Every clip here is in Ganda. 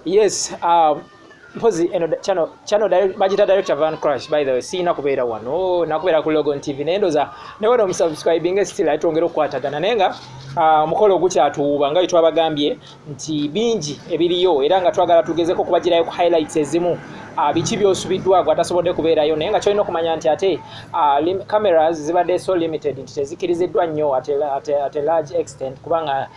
yes uh, mpozi eno channel channel direct bajita direct van crash by the way sina kubeera wano na kubeera ku logon tv nendo za ne wano msubscribing still atongera okwatagana nenga uh, ah, mukolo gucha tuuba nga itwa bagambye nti bingi ebiriyo era nga twagala tugezeko kubajira yo highlights ezimu uh, ah, bichi byosubidwa gwa tasobode kubeera yo nenga choino kumanya nti ate uh, lim, cameras zibade so limited nti tezikiriziddwa nnyo at, at, at a large extent kubanga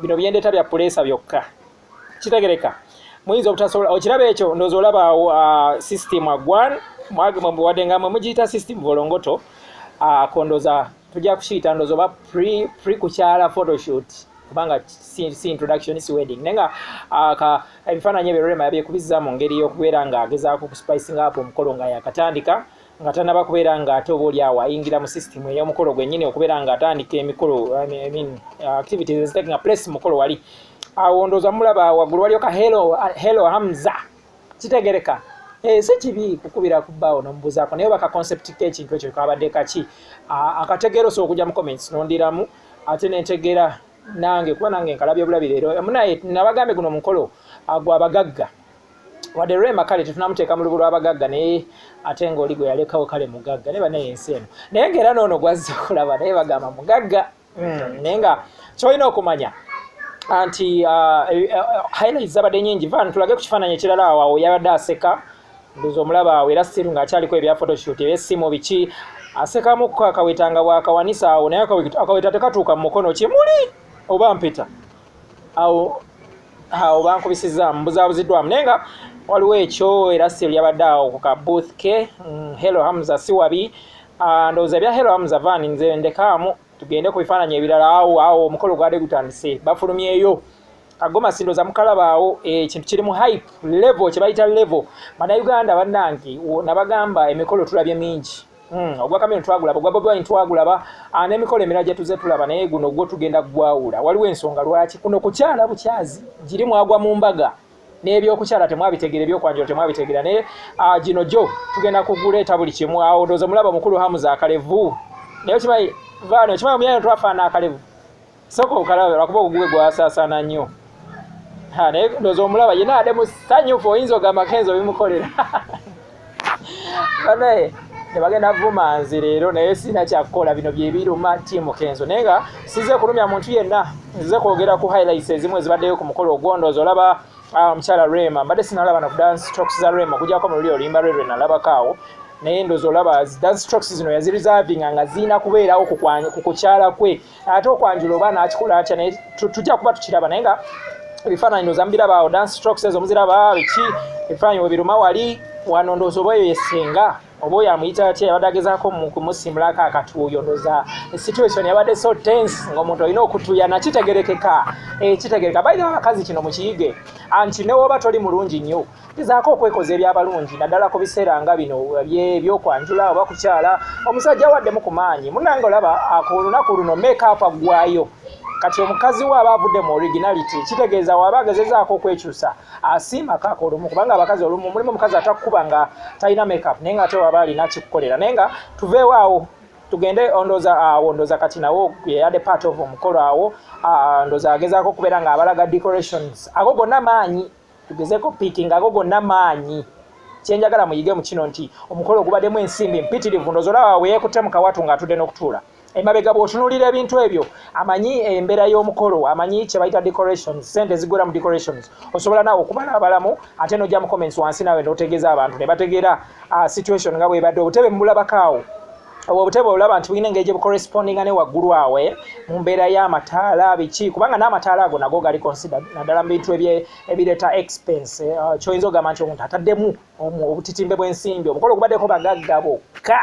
bino byendeta bya pulesa byokka kitegereka muyinza obutasobola okiraba ekyo ndoza olaba uh, system agwan wadde nga mwe mugiyita system volongoto uh, kondoza tujja kukiyita ndoza oba pre kukyala photoshoot kubanga si introduction si wedding naye nga ah, ebifaananyi ebyo rema yabyekubizza mu ngeri y'okubeera ng'agezaako okuspicinga up omukolo nga yakatandika nga tanaba kubeera nga ate oba oli awo ayingira mu system ey'omukolo gwennyini okubeera nga atandika emikolo I mean, uh, activities is taking a place mukolo wali awo ndooza mulaba waggulu waliyo ka hello, uh, hello hamza kitegereka eh, si kibi kukubira ku bbaawo nomubuzaako naye baka concept kekintu ekyo kabadde kaki akategeera osobola okujja mu comments nondiramu ate nentegeera nange kuba nange nkalabye obulabi leero munaye nabagambye guno mukolo agwa abagagga wadde rema kale tetunamuteeka mu lubu lw'abagagga naye ate ng'oli gwe yalekawo kale mugagga naye banaye ensi eno naye ng'era noono gwazza okulaba naye bagamba mugagga hmm, naye nga kyolina okumanya anti uh, eh, eh, highlight zabadde nyingi van tulage ku kifaananyi ekirala awawo yabadde aseka ndoza omulaba awo era siru ng'akyaliko ebya photoshoot ebyessimu biki asekamu akaweta nga bwakawanisa awo naye akaweta tekatuuka mu mukono kimuli oba mpeta awo awo bankubisizaamu mbuzabuziddwamu naye nga waliwo ekyo era si lyabadde awo ku ka booth ke mm, hello hamza si wabi ah, ndowooza ebya hello hamza van nze ndekaamu tugende ku bifaananyi ebirala awo awo omukolo gwade gutandise bafulumyeyo kagoma sindoza mukalabaawo eh, ekintu kiri mu hype level kyebayita level banauganda banange nabagamba emikolo tulabye mingi Hmm, ogwa kameno twagulaba ogwa bobi wine twagulaba ah, n'emikolo emirala gye tuze tulaba naye guno gwo tugenda kugwawula waliwo ensonga lwaki kuno kukyala bukyazi giri mwagwa mu mbaga n'ebyokukyala temwabitegera ebyokwanjula temwabitegera naye ah, gino gyo tugenda kuguleeta buli kimu awo ndooza omulaba mukulu hamuza akalevu naye okimanyi vaano okimanyi omuyana twafaana akalevu soka okalabe lwakuba ogugwe gwasasana nnyo naye ndoza omulaba yena ade musanyufu oyinza ogamba kenzo bimukolera banaye nebagenda vuma nze leero naye sirina kyakukola bino byebiruma tiimu kenzo naye nga size kulumya muntu yenna nzize kwogera ku highlights ezimu ezibaddeyo ku mukolo ogwondooza olaba ah, omukyala rema mbadde sinalaba na ku dance talks za rema okujako mu luli oluyimba lwe lwe nalabakaawo naye ndozi olaba dance strokes zino yazirizavinga nga zirina kubeerawo ku kukyala kwe ate okwanjula oba nakikola atya naye tujja kuba tukiraba naye nga ebifaananyi ndoza mubiraba awo dance strokes ezo muziraba biki ebifaananyi webiruma wali wano ndoza oba eyo yesinga oba oyo amuyita atya yabadde agezaako kumusimulako akatuuyo ndoza situation yabadde so tense ngaomuntu olina okutuya nakitegerekeka ekitegereka eh, baire abakazi kino mukiyige anti newoba toli mulungi nnyo gezaako okwekoza ebyabalungi naddala ku biseera nga bino byebyokwangula oba kukyala omusajja waddemu ku maanyi munange olaba ku lunaku luno mekaapa ggwayo kati omukazi we aba avudde mu originality kitegeeza waba agezezaako okwekyusa asiima kaaka olumu kubanga abakazi olumu mulimu omukazi atakukuba nga talina makeup naye nga ate waba alina kikukolera naye nga tuveewo awo tugende ondoza awo ah, ndoza kati nawo yeyade part of omukolo awo ah, ndoza agezaako okubeera nga abalaga decorations ago gonna maanyi tugezeko piki ngago gonna maanyi kyenjagala muyige mu kino nti omukolo ogubaddemu ensimbi mpitirivu ndozolawa weyekute mu kawatu ng'atudde n'okutuula emabega bw'otunulira ebintu ebyo amanyi embeera y'omukolo amanyi kye bayita decorations sente ezigwera mu decorations osobola naawe okubala abalamu ate n'ojja mu comments wansi naawe n'otegeeza abantu ne bategeera ah, situation nga bwebadde obutebe mubulabakaawo obwo obutebe olaba nti bulina engeri gye bucorrespondinga ne waggulu awe eh, mu mbeera y'amataala biki kubanga n'amataala ago nago gali considered naddala mu bintu ebireeta expense eh, ah, kyoyinza okugamba nti omuntu ataddemu obutitimbe bw'ensimbi omukolo ogubaddeko bagagga bokka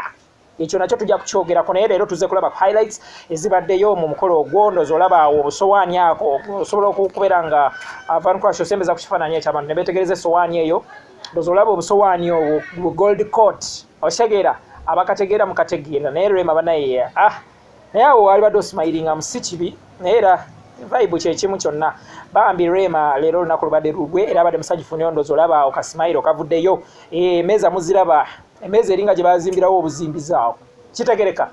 ekyo nakyo tujja kukyogerako naye leero tuze kulaba ku highlights ezibaddeyo mu mukolo ogwo ndozi olaba awo obusowaani ako osobola okubeera nga ah, vancrash osembeza ku kifaananyi ekyabantu ne beetegereza esowaani eyo ndozi olaba obusowaani obwo gold court okitegera abakategeera mukategeera naye rema banaye ah naye awo wali badde osimayiringa musi kibi naye era vibe kyekimu kyonna bambi rema leero olunaku lubadde lugwe era abadde musajja funi ondozi olaba awo kasimayiro kavuddeyo eh, emeeza muziraba emeeza eringa gye bazimbirawo obuzimbizi awo kitegereka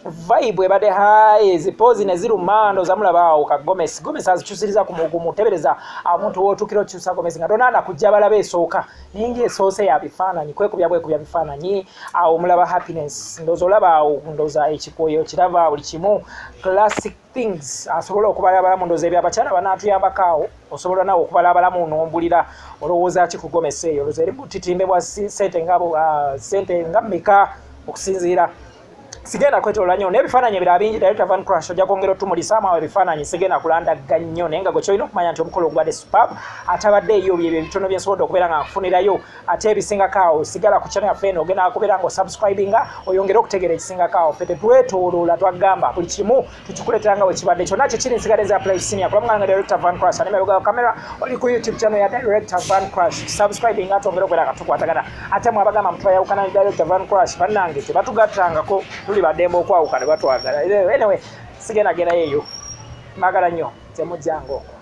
vibe ebadde high ezipoozi ne ziruma ndoza mulaba awo ka gomesi gomesi azikyusiriza ku mugumu tebereza omuntu wootuukira okyusa gomesi nga tonaana kujja balaba esooka naye nga esoose ya bifaananyi kwekubya bwekubya bifaananyi awo mulaba happiness ndoza olaba awo ndoza ekikwoyo kiraba buli kimu classic things asobola okubala abalamu ndoza ebyo abakyala banatuyambako awo osobola nawe okubala abalamu nombulira olowooza ki kugomesa eyo loza eri butitimbe bwa sente nga ah, sente nga meka okusinziira sigenda kwetolola nyo nebifaananyi ebira bingi director van crash ojja kwongera otumulizaamu awo ebifaananyi sigenda kulandaga nnyo naye nga gwe kyolina okumanya nti omukolo ogubadde supab atabadde eyo byebyo ebitono byensobodde okubeera nga nkufunirayo ate ebisingako awo sigala ku channel yaffe eno ogenda akubeera nga osubscribinga oyongere okutegeera ekisingako awo ffe tetwetooloola twagamba buli kimu tukikuleetera nga wekibadde kyonna kyekiri nsigala eza play senior kulamu nga director van crash ane merugawo camera oli ku youtube channel ya director van crash subscribinga ate ongere okubeera nga tukwatagana ate mwe abagamba mtu ayawukana ne director van crash bannange tebatugattangako tuli badembe okwawuka ne batwagala anyway sigenda genda yeeyo magala nnyo temujjangaoko